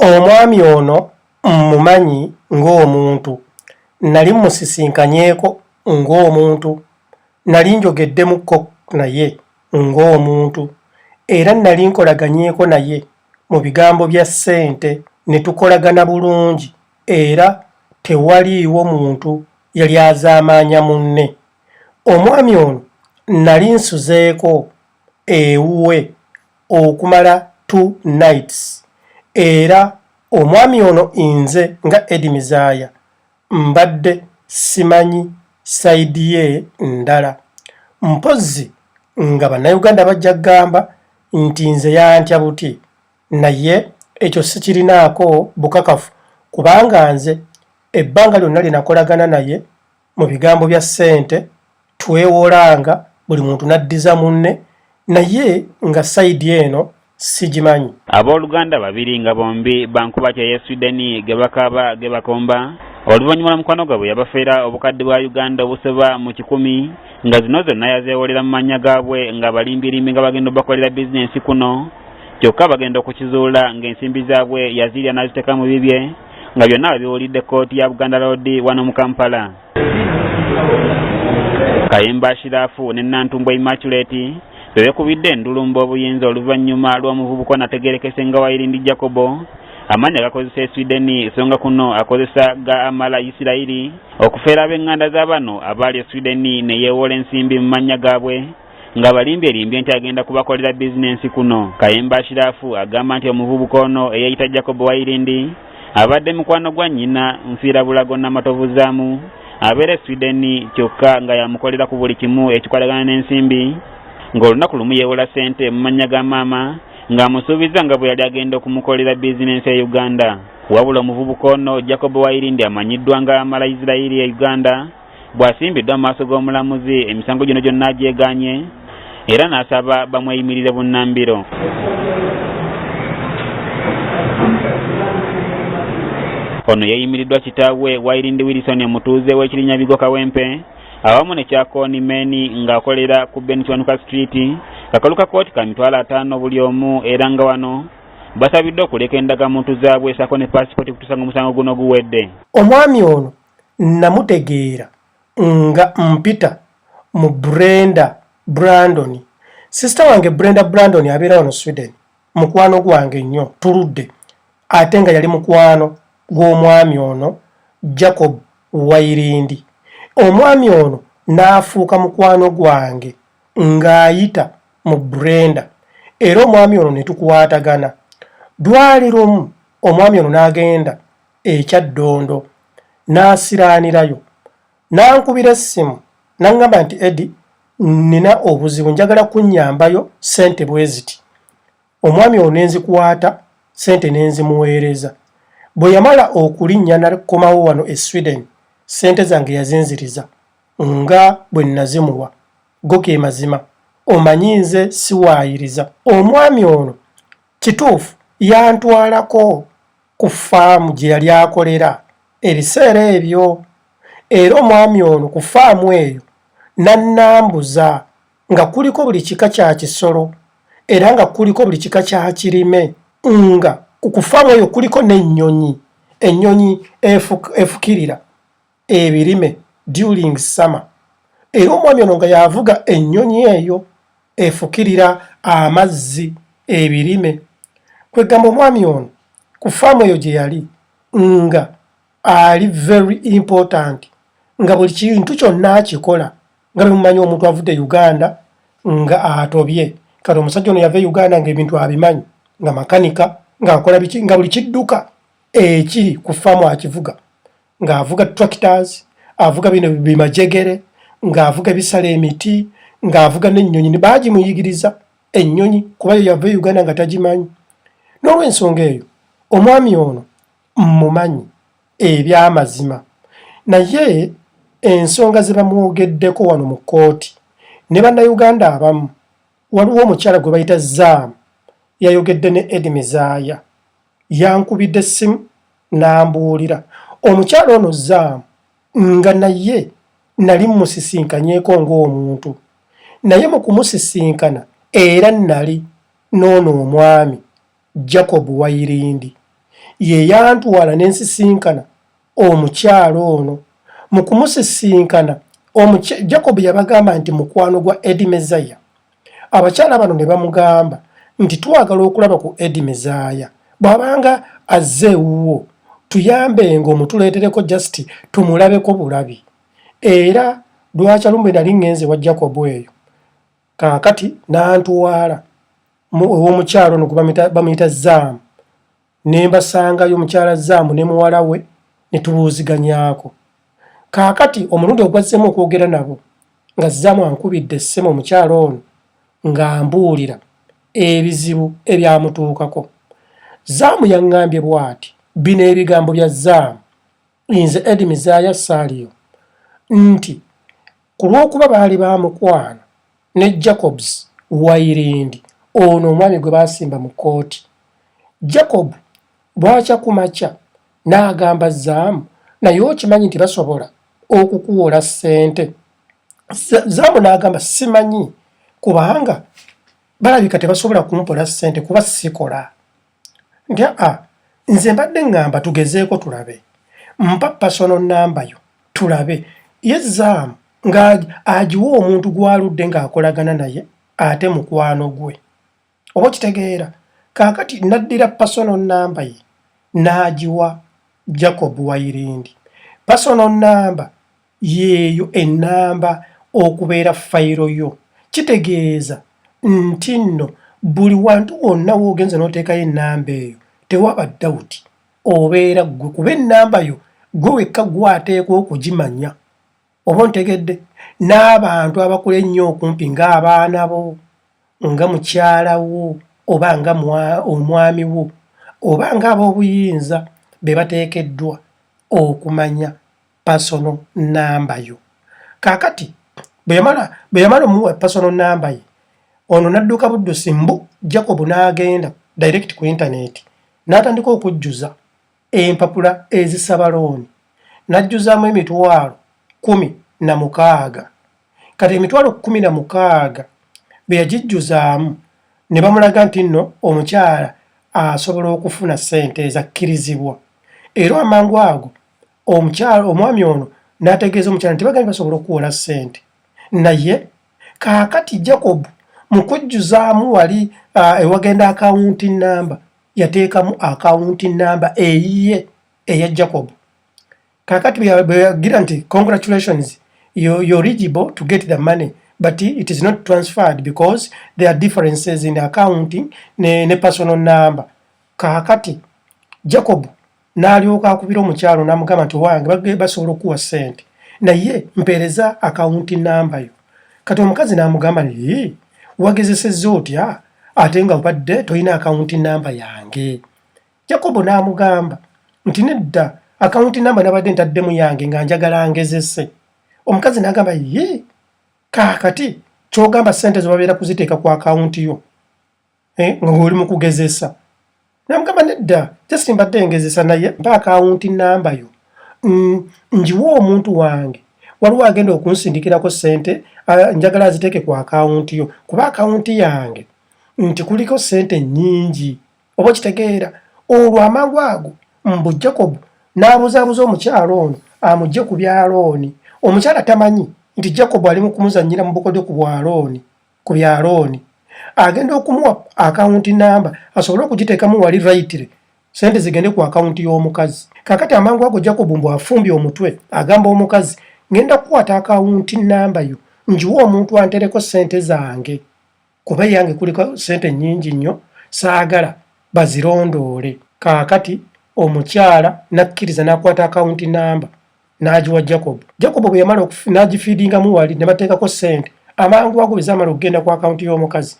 Omwami ono mmumanyi ng'omuntu. Nnali mmusisinkanyeko ng'omuntu. Nnali njogeddemukko naye ng'omuntu. Era nnali nkolaganyeeko naye mu bigambo bya ssente ne tukolagana bulungi era tewaliiwo muntu yali azaamaanya munne. Omwami ono nnali nsuzeeko ewuwe okumala two nights era omwami ono inze nga Edi Mizaaya mbadde simanyi sayidi ye ndala mpozzi nga bannayuganda bajja kugamba nti nze yantya buti naye ekyo sikirinaako bukakafu kubanga nze ebbanga lyonna lye nakolagana naye mu bigambo bya ssente twewolanga buli muntu n'addiza munne naye nga sayidi eno sigimanyi abooluganda babiri nga bombi bankuba kya ya swideni ge bakaaba ge bakomba oluvannyuma lwa mukwano gwabwe yabafeera obukadde bwa uganda obusoba mu kikumi nga zino zonna yazeewolera mu mannya gaabwe nga balimbirimbi nga bagenda obakolera bizinensi kuno kyokka bagenda okukizuula ng'ensimbi zaabwe yaziirya n'aziteeka mu bibye Nga byonna webiwulidde kkooti ya Buganda Road wano mu Kampala. Kayemba Ashirafu ne Nantumbwe Immaculate bebekubidde endulumba obuyinza oluvannyuma lw'omuvubuka onategerekese nga Wayirindi Jacobo amannya gakozesa eswideni songa kuno akozesa ga amala isirayiri okufeera ab'enganda za bano abaali eswideni ne yeewoola ensimbi mu mannya gaabwe nga balimbye limbye nti agenda kubakolera bizinensi kuno kayemba ashirafu agamba nti omuvubuka ono eyeyita jacob wairindi abadde mukwano gwa nnyina nfiira bulago namatovu zaamu abeera e sweden kyokka nga yamukolera ku buli kimu ekikwatagana n'ensimbi ng'olunaku lumu yeewola ssente mu mannya ga maama ng'amusuubiza nga bwe yali agenda okumukolera bizinensi e uganda wabula omuvubuka ono jacob wairindi amanyiddwa nga mala isirairi e uganda Bw'asimbiddwa mu maaso g'omulamuzi emisango gino gyonna agyeganye era n'asaba bamweyimirire bunnambiro. Ono yeeyimiriddwa kitaawe Wairindi Wilson omutuuze w'ekirinya Bigo Kawempe awamu ne Kyakooni Meni ng'akolera ku Ben Kiwanuka Street kakalu ka kkooti ka mitwalo ataano buli omu era nga wano basabiddwa okuleka endagamuntu zaabwe saako ne paasipooti kutuusa ng'omusango guno guwedde. Omwami ono nnamutegeera nga mpita mu brenda brandon sisita wange brenda brandon abeera wano sweden mukwano gwange nnyo tuludde ate nga yali mukwano gw'omwami ono jacob wairindi omwami ono n'afuuka mukwano gwange ng'ayita mu brenda era omwami ono ne tukwatagana dwali lumu omwami ono n'agenda e Kyaddondo n'asiraanirayo n'ankubira essimu n'aŋŋamba nti Eddy nnina obuzibu njagala kunnyambayo ssente bwe ziti omwami ono ne nzikwata ssente ne nzimuweereza bwe yamala okulinnya nakomawo wano e Sweden ssente zange yazinziriza nga bwe nnazimuwa go ge mazima omanyi nze siwaayiriza omwami ono kituufu yantwalako ku ffaamu gye yali akolera ebiseera ebyo era omwami ono ku ffaamu eyo n'annambuza nga kuliko buli kika kya kisolo era nga kuliko buli kika kya kirime nga ku ffaamu eyo kuliko n'ennyonyi ennyonyi efukirira ebirime during summer era omwami ono nga yavuga ennyonyi eyo efukirira amazzi ebirime kwegamba omwami ono ku faamu eyo gye yali nga ali very important nga buli kintu kyonna akikola nga bemumanyi omuntu avudde uganda nga atobye kati omusajja ono yava e uganda nga ebintu abimanyi nga makanika ngaakola biki nga buli kidduka ekiri ku faamu akivuga ng'avuga tractors avuga bino bimajegere ng'avuga bisala emiti ng'avuga n'ennyonyi baagimuyigiriza ennyonyi kuba yo yava e uganda nga tagimanyi n'olwensonga eyo omwami ono mmumanyi ebyamazima naye ensonga ze bamwogeddeko wano mu kkooti ne bannayuganda abamu waliwo omukyala gwe bayita zaamu yayogedde ne edi mizaaya yankubidde essimu n'ambuulira omukyala ono Zam nga naye nali mmusisinkanyeko ng'omuntu naye mu kumusisinkana era nali n'ono omwami Jacob Wairindi ye yantwala ne nsisinkana omukyala ono mu kumusisinkana Jacob yabagamba nti mukwano gwa Eddie Mezaya abakyala bano ne bamugamba nti twagala okulaba ku edi mizaaya bw'abanga azze ewuwo tuyambenga omutuleetereko jasiti tumulabeko bulabi era lwakya lumbe nali ŋŋenze wa jacobu eyo kaakati n'antwala ow'omukyalo no gwe bamuyita zaamu ne mbasangayo mukyala Zaamu ne muwala we ne tubuuziganyaako. Kaakati omulundi ogwazzeemu okwogera nabo nga Zaamu ankubidde essimu omukyala ono ng'ambuulira ebizibu ebyamutuukako. Zaamu yaŋŋambye bw'ati, Bino ebigambo bya Zaamu. nze Edi Mizaaya Saliyo nti ku lw'okuba baali ba mukwano ne Jacobs Wairindi ono omwami gwe baasimba mu kkooti, Jacob bwakya ku makya n'agamba Zaamu naye okimanyi nti basobola okukuwola ssente. Zaamu n'agamba simanyi kubanga balabika tebasobola kumpola ssente kuba sikola. nti aa nze mbadde ŋŋamba tugezeeko tulabe mpa pasono nnamba yo tulabe ye zaamu ng'agiwa omuntu gw'aludde ng'akolagana naye ate mukwano gwe oba okitegeera kaakati naddira pasono nnamba ye n'agiwa jacob wairindi pasono nnamba Yeeyo ennamba okubeera fayiro yo. Kitegeeza nti nno buli wantu wonna w'ogenze n'oteekayo ennamba eyo tewaba dawuti obeera ggwe kuba ennamba yo ggwe wekka gwateekwa okugimanya oba ontegedde n'abantu abakula ennyo okumpi ng'abaana bo nga mukyala wo oba nga omwami wo oba ng'ab'obuyinza be bateekeddwa okumanya personal number yo kakati bweyamala bweyamala omuwa personal number ye ono nadduka buddusi mbu jacob n'agenda direct ku intaneti n'atandika okujjuza empapula ezisaba looni n'ajjuzaamu emitwalo kumi na mukaaga kati emitwalo kumi na mukaaga bwe yagijjuzaamu ne bamulaga nti nno omukyala asobola okufuna ssente ezakkirizibwa era amangu ago omukyalo omwami ono n'ategeeza omukyala nti bagambye basobola okuwola ssente naye kaakati jacob mu kujjuzaamu wali uh, ewagenda akawunti namba yateekamu akawunti namba eyiye eya jacob kaakati bweyagira nti congratulations you're eligible to get the money but it is not transferred because there are differences in accounting ne, ne personal number kaakati jacob n'alyoka akubira omukyalo n'amugamba nti owange bagge basobola okukuwa ssente naye mpeereza akawunti namba yo kati omukazi n'amugamba nti wagezesezza otya ate nga obadde tolina akawunti namba yange yakobo n'amugamba nti nedda akawunti namba nabadde ntaddemu yange nga njagala ngezese omukazi n'agamba ye kaakati kyogamba ssente zebabeera kuziteeka ku akawunti yo eh, nga oli mu kugezesa namugamba nedda just mbadde ngezesa naye mpa akawunti namba yo mm, njiwa omuntu wange waliwo agenda okunsindikirako sente njagala aziteeke ku akawunti yo kuba akawunti yange nti kuliko sente nyingi oba okitegeera olwo amangu ago mbu jacob n'abuzaabuza omukyalo ono amugye ku byalooni omukyala tamanyi nti jacob ali mu kumuzannyira mu bukodyo ku bwalooni ku bya looni agenda okumuwa akawunti namba asobole okugiteekamu wali rayitire sente zigende ku akawunti y'omukazi kakati amangu ago jacob mbu afumbye omutwe agamba omukazi ngenda kukwata akawunti namba yo njiwa omuntu antereko sente zange kuba eyange kuliko sente nyingi nnyo saagala bazirondoole kaakati omukyala nakkiriza nakwata akawunti namba n'agiwa jacob jacob bwe yamala n'agifiidingamu wali ne bateekako ssente amangu ago bwe zaamala okugenda ku akawunti y'omukazi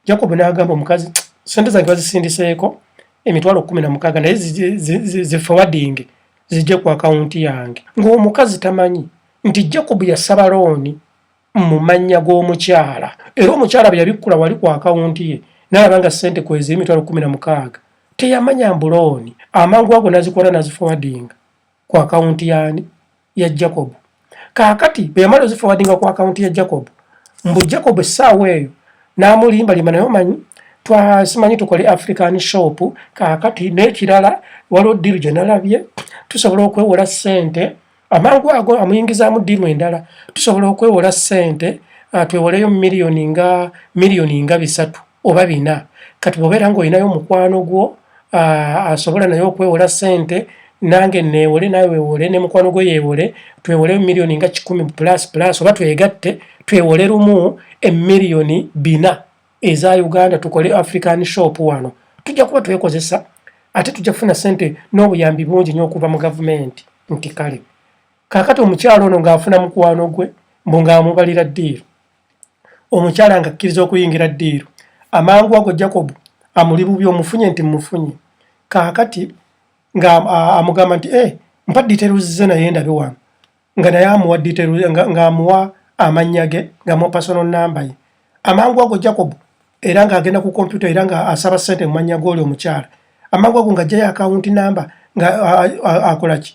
jacob n'agamba omukazi ssente zange bazisindiseeko emitwalo kkumi na mukaaga naye zifowadinge zijje ku akawunti yange ng'omukazi tamanyi nti jacob yasaba looni mu mannya g'omukyala era omukyala bwe yabikkula wali ku akawunti ye n'alaba nga ssente kweziri emitwalo kkumi na mukaaga teyamanya mbulooni amangu ago n'azikola n'azifowadinga ku akawunti yaani ya jacob kaakati bwe yamala ozifowadinga ku akawunti ya jacob mbu jacob essaawa eyo n'amulimbalimba naye omanyi twasimanyi tukole african shop kaakati n'ekirala waliwo ddiiru gye nalabye tusobola okwewola ssente amangu ago amuyingizaamu ddiiru endala tusobola okwewola ssente ah, twewoleyo miliyoni nga miliyoni nga bisatu oba bina kati bwobeera ng'olinayo omukwano gwo uh, asobola naye okwewola sente nange neewole nawe weewole ne mukwano gwe yeewole twewole miliyoni nga kikumi plus plus oba twegatte twewole lumu emiliyoni bina eza uganda tukole african shop wano tujja kuba twekozesa ate tujja kufuna sente n'obuyambi bungi nyo okuva mu gavumenti nti kale kakati omukyalo ono ng'afuna mukwano gwe mbu ng'amubalira ddiiru omukyala ng'akkiriza okuyingira ddiiru amangu ago jakobu amuli bubi omufunye nti mmufunye kaakati ng'amugamba nti e mpa diteruzize naye ndabe wano nga naye amuwa diteru ng'amuwa amannya ge ng'amuwa pasono nnamba ye amangu ago jakobu era ng'agenda ku kompyuta era ng'asaba ssente mu mannya g'oli omukyala amangu ago ng'ajjayo akawunti namba ng'akola ki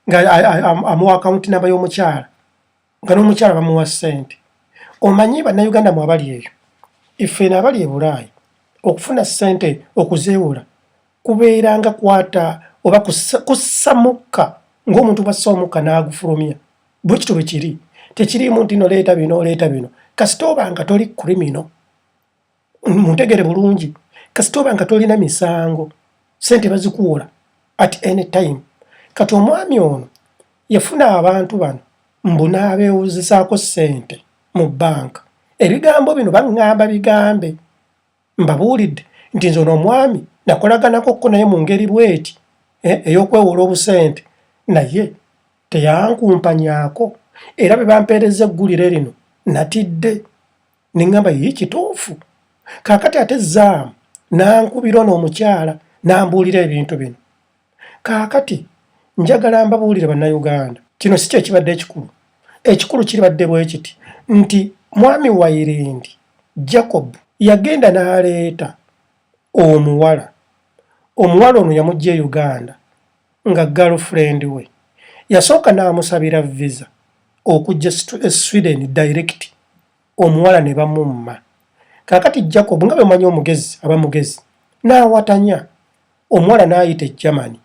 ng'amuwa akawunti namba y'omukyala nga n'omukyala bamuwa ssente omanyi bannayuganda mu abali eyo effeeno abali e bulaayi okufuna ssente okuzeewola kubeeranga kwata oba kussa mukka ng'omuntu bwassa omukka n'agufulumya bwe kityo bwe kiri tekiriimu nti noleeta bino oleeta bino kasita oba nga toli krimino muntegere bulungi kasita oba nga tolina misango sente bazikuwola at any time kati omwami ono yafuna abantu bano mbu n'abeewuzisaako ssente mu bbanka ebigambo bino baŋŋamba bigambe mbabuulidde nti nze ono omwami nakolaganako ko naye mu ngeri bweti eh, ey'okwewola obusente naye teyankumpanyako era bwe bampeereza eggulire lino natidde ne ŋŋamba ye kituufu kaakati ate zaamu n'ankubira ono omukyala n'ambuulira ebintu bino kaakati njagala mbabuulire bannayuganda kino si kyekibadde ekikulu ekikulu kiribadde bwe kiti nti mwami wairindi jacob yagenda n'aleeta omuwala omuwala ono yamujja e uganda nga girlfriend we yasooka n'amusabira visa okujja e Sweden direct omuwala ne bamumma. Kaakati Jacob nga bwe manyi omugezi aba mugezi n'awatanya omuwala n'ayita e Germany.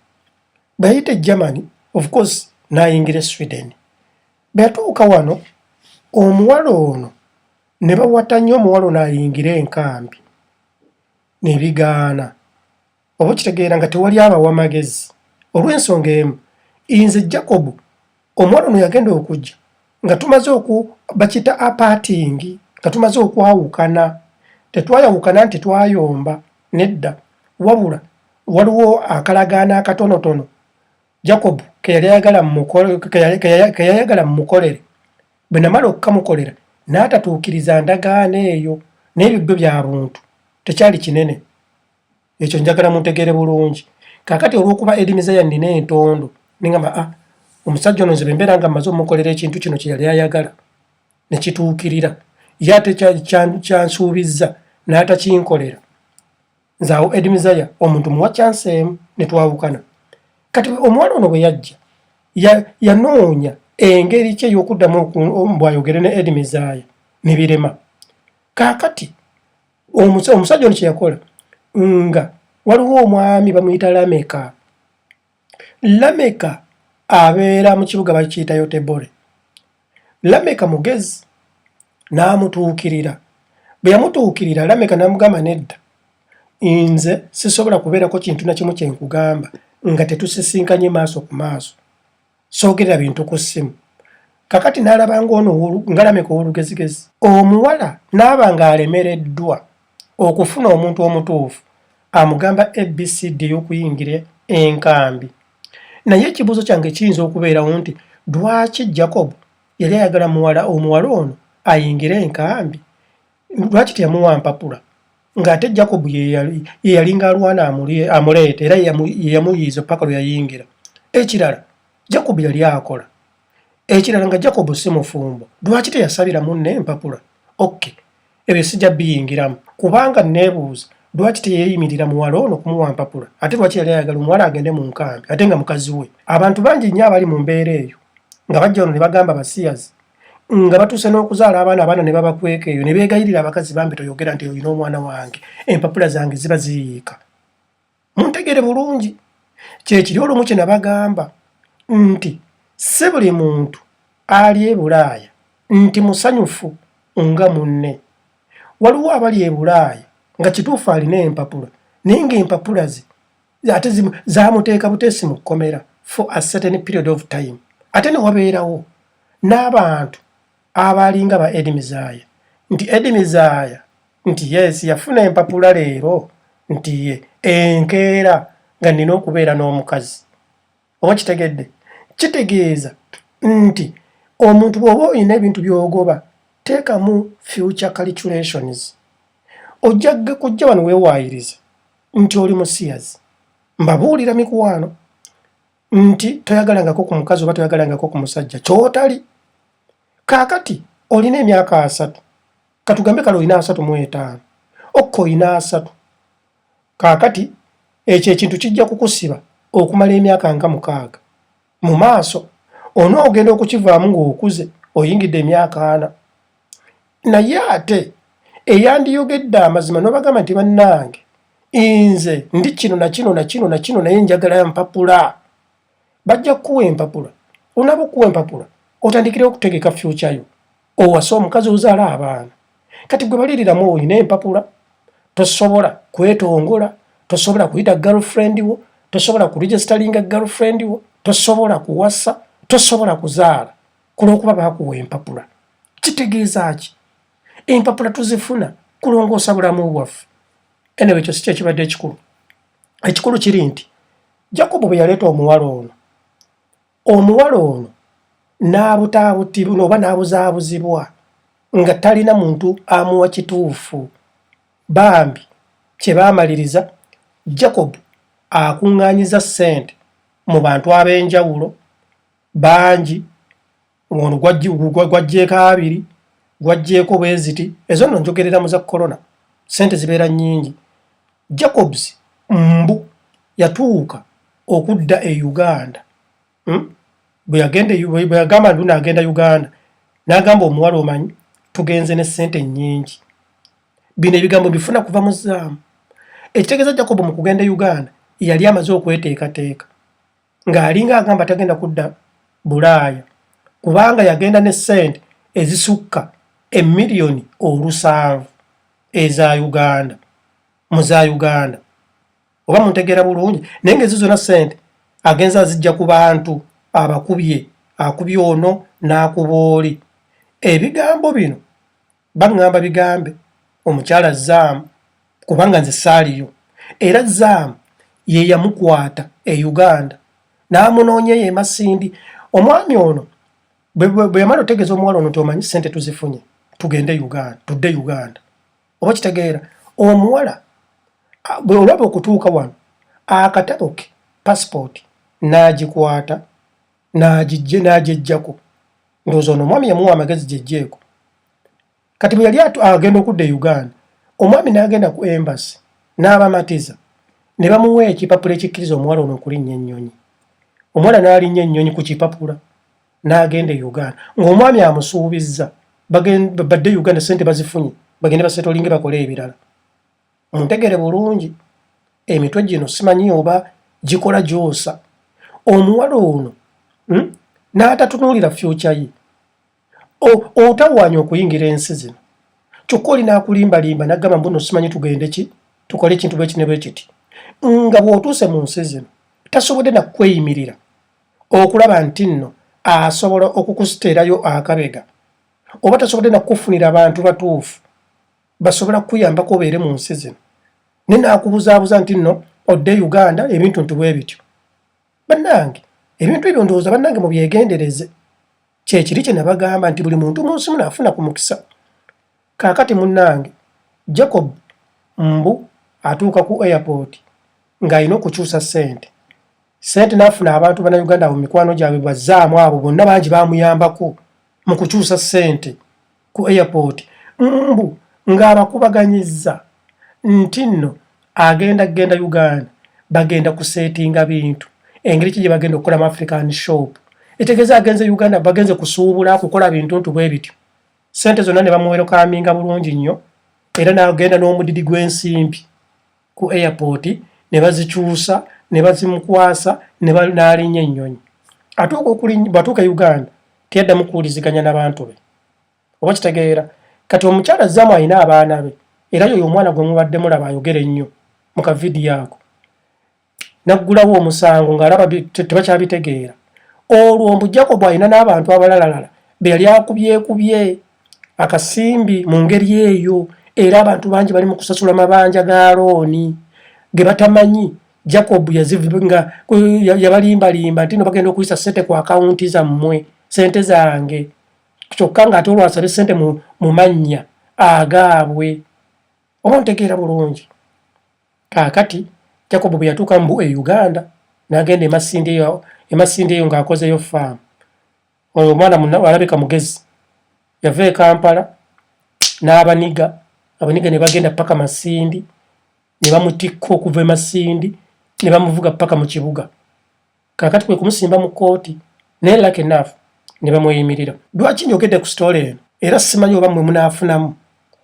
Bwe yayita e Germany of course n'ayingira e Sweden. Bwe yatuuka wano omuwala ono ne bawatanya omuwala ono ayingire enkambi ne bigaana. oba okitegeera nga tewali abawa magezi olw'ensonga emu inze jacobu omwana ono yagenda okujja nga tumaze oku bakita apaatingi nga tumaze okwawukana tetwayawukana nti twayomba nedda wabula waliwo akalagaana akatonotono jacobu keyayagala mumukolere bwe namala okukamukolera n'atatuukiriza ndagaano eyo naye bibyo bya buntu tekyali kinene ekyo njagala muntegeere bulungi kakati olwokuba edimizeya nina entondo nengamba a ah, omusajja ono nzebe mbeera nga mmaze omukolera ekintu kino kyeyali ayagala nekituukirira ye ate kyansuubizza n'atakinkolera nze awo edimizaya omuntu muwa kyansi emu netwawukana kati omuwala ono bwe yajja yanoonya engeri kye ey'okuddamu bwayogere ne edimizaya ne birema kaakati omusajja ono kyeyakola nga waliwo omwami bamuyita lameka lameka abeera mu kibuga bakiyita yotebore lameka mugezi n'amutuukirira bwe yamutuukirira lameka n'amugamba nedda nze sisobola kubeerako kintu na kimu kye nkugamba nga tetusisinkanye maaso ku maaso soogera bintu ku ssimu kakati n'alaba ng'ono ngalameka ow'olugezigezi omuwala n'aba ng'alemereddwa okufuna omuntu omutuufu amugamba abcd okuyingira enkambi naye ekibuuzo kyange kiyinza okubeerawo nti lwaki jacob yali ayagala muwala omuwala ono ayingire enkambi lwaki teyamuwa mpapula ng'ate jacob yeyalinga alwana amuleeta era yeyamuyiiza paka lwe yayingira ekirala jacob yali akola ekirala nga jacob si mufumbo lwaki teyasabira munne empapula ok ebyo sijja biyingiramu kubanga neebuuza lwaki teyeyimirira muwala ono kumuwa mpapula ate lwaki yali ayagala omuwala agende mu nkambi ate nga mukazi we abantu bangi nnyo abali mu mbeera eyo nga bajja ono ne bagamba basiyazi nga batuuse n'okuzaala abaana abaana ne babakweka eyo ne beegayirira abakazi bambi toyogera nti olina omwana wange empapula zange ziba ziyiika muntegere bulungi kyekiri olumu kye nabagamba nti si buli muntu ali e bulaaya nti musanyufu nga munne waliwo abali e bulaaya nga kituufu alina empapula naye ng'empapula ze ate zamuteeka buteesi mu kkomera for a certain period of time ate ne wabeerawo n'abantu abaalinga ba edi mizaaya nti edi mizaaya nti yes yafuna empapula leero nti ye enkeera nga nina okubeera n'omukazi oba kitegedde kitegeeza nti omuntu bw'oba olina ebintu by'ogoba teekamu future calculations ojja kujja wano weewaayiriza nti oli musiyazi mbabuulira mikwano nti toyagalangako ku mukazi oba toyagalangako ku musajja kyotali kaakati olina emyaka asatu katugambe kale olina asatu mu etaano okka olina asatu Kaakati, ekyo ekintu kijja kukusiba okumala emyaka nga mukaaga. Mu maaso, onoogenda okukivaamu ng'okuze, oyingidde emyaka ana. Naye ate, eyandiyogedde amazima n'obagamba nti, Bannange, nze ndi kino na kino na kino na kino, naye njagala mpapula. bajja kukuwa empapula onaba okuwa empapula otandikire okutegeka future yo owase omukazi ozaala abaana kati gwe baliriramu olina empapula tosobola kwetongola tosobola kuyita girlfriend wo tosobola kuregisteringa girlfriend wo tosobola kuwasa tosobola kuzaala kulwokuba bakuwa empapula kitegeeza ki empapula tuzifuna kulongoosa bulamu bwaffe enewekyo si kyekibadde ekikulu ekikulu kiri nti jakobo bwe yaleeta omuwala ono omuwala ono n'abutaabutibwa oba n'abuzaabuzibwa nga talina muntu amuwa kituufu bambi kye baamaliriza jacob akuŋŋaanyiza ssente mu bantu ab'enjawulo bangi ono gwajjeeko abiri gwajjeeko bweziti ezo no njogerera mu za corona sente zibeera nyingi jacobs mbu yatuuka okudda e uganda hmm? bweyagamba nti nagenda uganda nagamba omuwala omanyi tugenze ne sente nyingi bino ebigambo bifuna kuva mu zaamu ekitegeeza jacob mu kugenda e uganda yali amaze okweteekateeka ng'alinga agamba tagenda kudda bulaaya kubanga yagenda ne ssente ezisukka emiliyoni olusanvu eza uganda mu za uganda oba muntegeera bulungi naye ngaezo zona ssente agenza azijja ku bantu abakubye akubye ono n'akuba oli ebigambo bino baŋŋamba bigambe omukyala Zaamu kubanga nze saaliyo era Zaamu ye yamukwata e Uganda n'amunoonya eyo e Masindi. Omwami ono bwe yamala otegeeza omuwala ono nti omanyi ssente tuzifunye tugende Uganda tudde Uganda oba kitegeera omuwala bwe olaba okutuuka wano akatabo ke pasipooti n'agikwata n'agijje n'agyejjako ndowooza ono omwami yamuwa amagezi gyejjeeko kati bwe yali agenda okudda e uganda omwami n'agenda ku embasi n'abamatiza ne bamuwa ekipapula ekikkiriza omuwala ono okulinnya ennyonyi omuwala n'alinnya ennyonyi ku kipapula n'agenda e uganda ng'omwami amusuubizza badde e uganda sente bazifunye bagende basetolinge bakole ebirala muntegere bulungi emitwe gino simanyi oba gikola gyosa omuwala ono hmm? n'atatunuulira fyuca ye otawaanya okuyingira ensi zino kyokka oli n'akulimbalimba nagamba mbuno simanyi tugende ki tukole ekintu bwekine bwe kiti nga bw'otuuse mu nsi zino tasobodde nakukweyimirira okulaba nti nno asobola okukusiteerayo akabega oba tasobodde nakukufunira abantu batuufu basobola kukuyambako obeere mu nsi zino ne naakubuzaabuza nti nno odde uganda ebintu nti bwe bityo bannange ebintu ebyo ndowooza bannange mubyegendereze kyekiri kye nabagamba nti buli muntu mu nsi muno afuna ku mukisa kaakati munnange jacob mbu atuuka ku airport ng'alina okukyusa ssente ssente n'afuna abantu bannayuganda abo mikwano gyabwe bazzaamu abo bonna bangi bamuyambako mu kukyusa ssente ku airport mbu ng'abakubaganyizza nti nno agenda kugenda Uganda bagenda kuseetinga bintu engeri ki gye bagenda okukola mu African shop etegeeza agenze Uganda bagenze kusuubula kukola bintu ntu bwe bityo sente zonna ne bamuwerokaminga bulungi nnyo era n'agenda n'omudidi gw'ensimbi. ku airport ne bazikyusa ne bazimukwasa ne banaalinya ennyonyi atuuka okulinya bwatuuka e uganda teyaddamu kuwuliziganya nabantu be oba kitegeera kati omukyala zamu alina abaana be era yoyo omwana gwe mubadde mulaba ayogera ennyo mu kavidiyo ako naggulawo omusango ng'alaba tebakyabitegeera olwo mbu jakobo alina n'abantu abalalalala be yali akubyekubye akasimbi mu ngeri eyo era abantu bangi bali mu kusasula mabanja ga looni ge batamanyi jacob yazivinga yabalimbalimba nti no bagenda okuyisa sente ku akawunti zammwe sente zange kyokka ng'ate olwasabe sente mu mannya agaabwe oba ontegeera bulungi kaakati jacob bwe yatuuka mu e uganda n'agenda emasinde eyo ng'akozeyo faamu Oyo mwana muna alabika mugezi. Yava e Kampala n'abaniga, abaniga ne bagenda paka Masindi, ne bamutikka okuva e Masindi, ne bamuvuga paka mu kibuga. Kakati kwe kumusimba mu kooti, naye luck enough ne bamweyimirira. Lwaki njogedde ku sitoola eno? Era simanyi oba mwe munaafunamu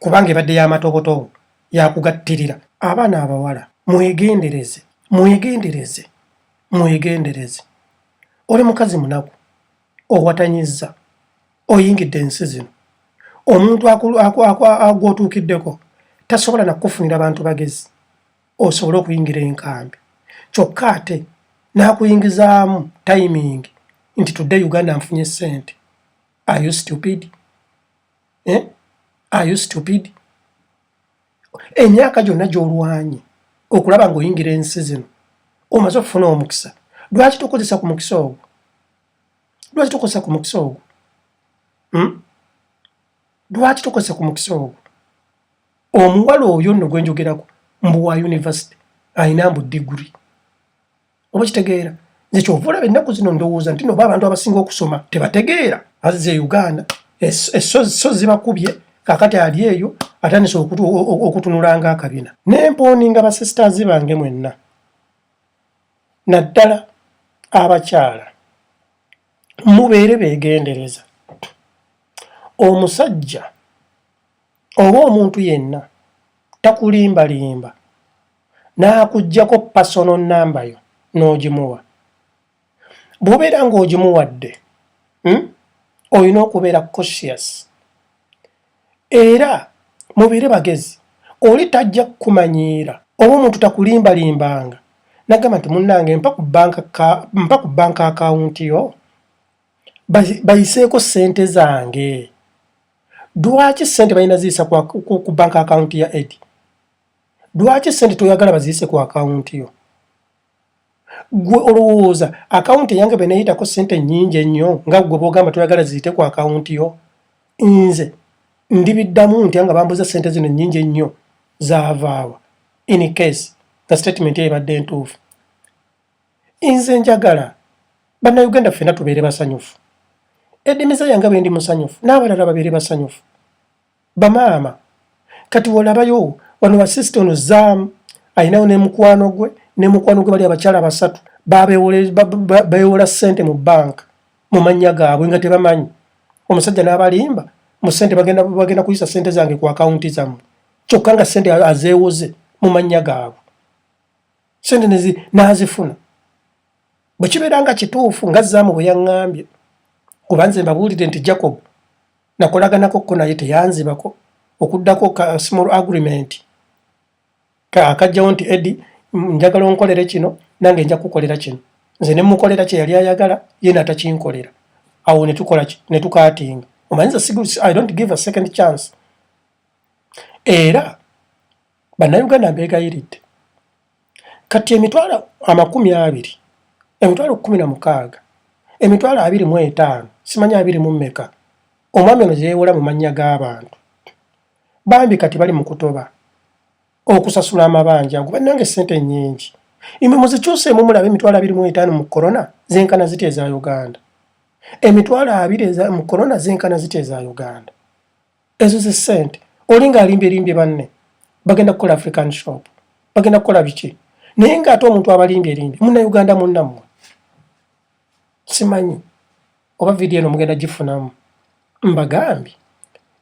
kubanga ebadde y'amatobotobo yakugattirira. Abaana abawala mwegendereze, mwegendereze. mwegendereze oli mukazi munaku owatanyiza oyingidde ensi zino omuntu agwotuukiddeko tasobola nakukufunira bantu bagezi osobole okuyingira enkambi kyokka ate n'akuyingizaamu timing nti tudde uganda nfunye sente ayo stupid eh? ayo stupid emyaka gyonna gy'olwanye okulaba ng'oyingira ensi zino omaze okufuna omukisa lwaki tokozesa ku mukisa ogwo lwaki tokozesa ku mukisa ogwo hmm? lwaki tokozesa ku mukisa ogwo omuwala oyo nno gwe njogerako mbu wa yunivasite alina mbu diguri oba kitegeera nze kyova olaba ennaku zino ndowooza nti noba abantu abasinga okusoma tebategeera azize e uganda esozi e zibakubye kakati ali eyo atandise okutunulanga akabina nempooninga basisters bange mwenna naddala abakyala mubeere begendereza omusajja oba omuntu yenna takulimbalimba n'akuggyako pasono nnamba yo n'ogimuwa bw'obeera ng'ogimuwadde hmm, olina okubeera conscious era mubeere bagezi oli tajja kukumanyiira oba omuntu takulimbalimbanga nagamba nti munnange mpa ku banka akawunti yo bayiseeko ssente zange lwaki ssente balina ziyisa ku banka akawunti ya edi Lwaki sente toyagala baziyise ku akawunti yo? Gwe olowooza akawunti eyange bwe neyitako sente nnyingi ennyo nga gwe bwogamba toyagala ziyite ku akawunti yo? Nze ndibiddamu ntya nga bambuza sente zino nnyingi ennyo zaavaawa in case nga sitatimenti eyo ebadde ntuufu. Nze njagala bannayuganda ffena tubeere basanyufu. Edimiza yange bwe ndi musanyufu n'abalala babeere basanyufu. Bamaama kati wolabayo wano wa sister ono zaamu alinawo ne mukwano gwe ne mukwano gwe bali abakyala basatu babewola sente mu bank mu mannya gaabwe nga tebamanyi omusajja n'abalimba mu sente bagenda bagenda kuyisa sente zange ku akawunti zammwe kyokka nga sente azeewoze mu mannya gaabwe sente n'azifuna bwe kibeera nga kituufu nga zaamu bwe yaŋŋambye kuba nze mbabuulire nti jacob nakolaganako ko naye teyanzibako okuddako ka small agreement ka akajjawo nti edi njagala onkolere kino nange nja kukolera kino nze ne mukolera kye yali ayagala ye natakinkolera awo ne tukola ki ne tukaatinga omanyiza sigu i don't give a second chance era Bannayuganda mbeegayiridde kati emitwalo amakumi abiri emitwalo kkumi na mukaaga emitwalo abiri mu etaano simanyi abiri mu mmeka omwami ono gye yeewola mu mannya g'abantu bambi kati bali mu kutoba okusasula amabanja ago bannange ssente nnyingi imwe muzikyuseemu mulabe emitwalo abiri mu etaano mu korona zenkana ziti eza uganda emitwalo abiri mu korona zenkana ziti eza uganda ezo ze sente olinga alimbye limbye banne bagenda kukola african shop bagenda kukola biki naye nga ate omuntu abalimbye limbye muna uganda munnamwe simanyi oba vidiyo eno mugenda gifunamu mbagambye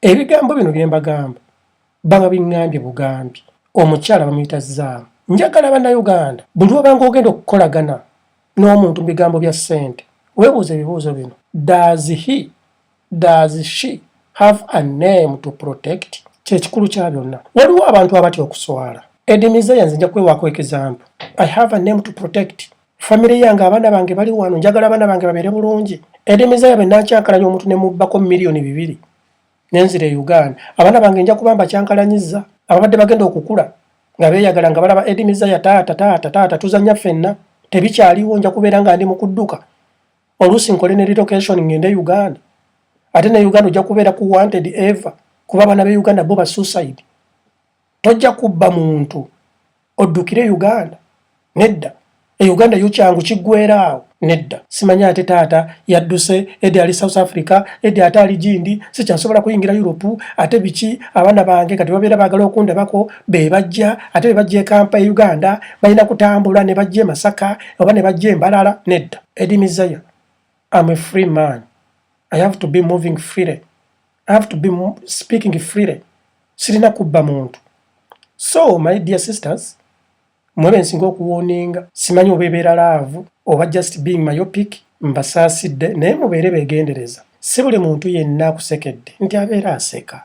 ebigambo bino bye mbagamba banga biŋŋambye bugambye omukyala bamuyita zaamu njagala bannayuganda buli wabanga ogenda okukolagana n'omuntu mu bigambo bya ssente weebuuza ebibuuzo bino daazihi Does she have a name to protect? Kyekikulu kya byonna. Waliwo abantu abatya okuswala. Edimize yanze nja kwewaako example. I have a name to protect. Family yange abaana bange bali wano njagala abaana bange babeere bulungi. Edimize yabe nakyankalanya omuntu ne mubbako miliyoni bibiri nenzira e Uganda. Abaana bange nja kubamba kyankalanyiza ababadde bagenda okukula nga beeyagala nga balaba Edimize ya taata taata taata tuzanya fenna tebikyaliwo nja kubeera nga ndi mu kudduka oluusi nkole ne relocation ngende e uganda ate ne uganda ojja kubeera ku wanted ever kuba abana be uganda bo ba suicide tojja kubba muntu oddukire e uganda nedda e uganda yo kyangu kiggweeraawo nedda simanya ate taata yadduse edi ali south africa edi ate ali gindi sikyasobola kuyingira europe ate biki abaana bange kati babeera baagala okundabako be bajja ate be bajja ekampa e uganda balina kutambula ne bajja e masaka oba ne bajja embalala nedda Eddie Mizaya, I'm a free man. I have to be moving freely. I have to be speaking freely. Sirina kubba muntu. So, my dear sisters, mwebe nsinga okuwoninga simanyi obebeera laavu oba just being myopic mbasaasidde naye mubeere begendereza si buli muntu yenna akusekedde nti abeera aseka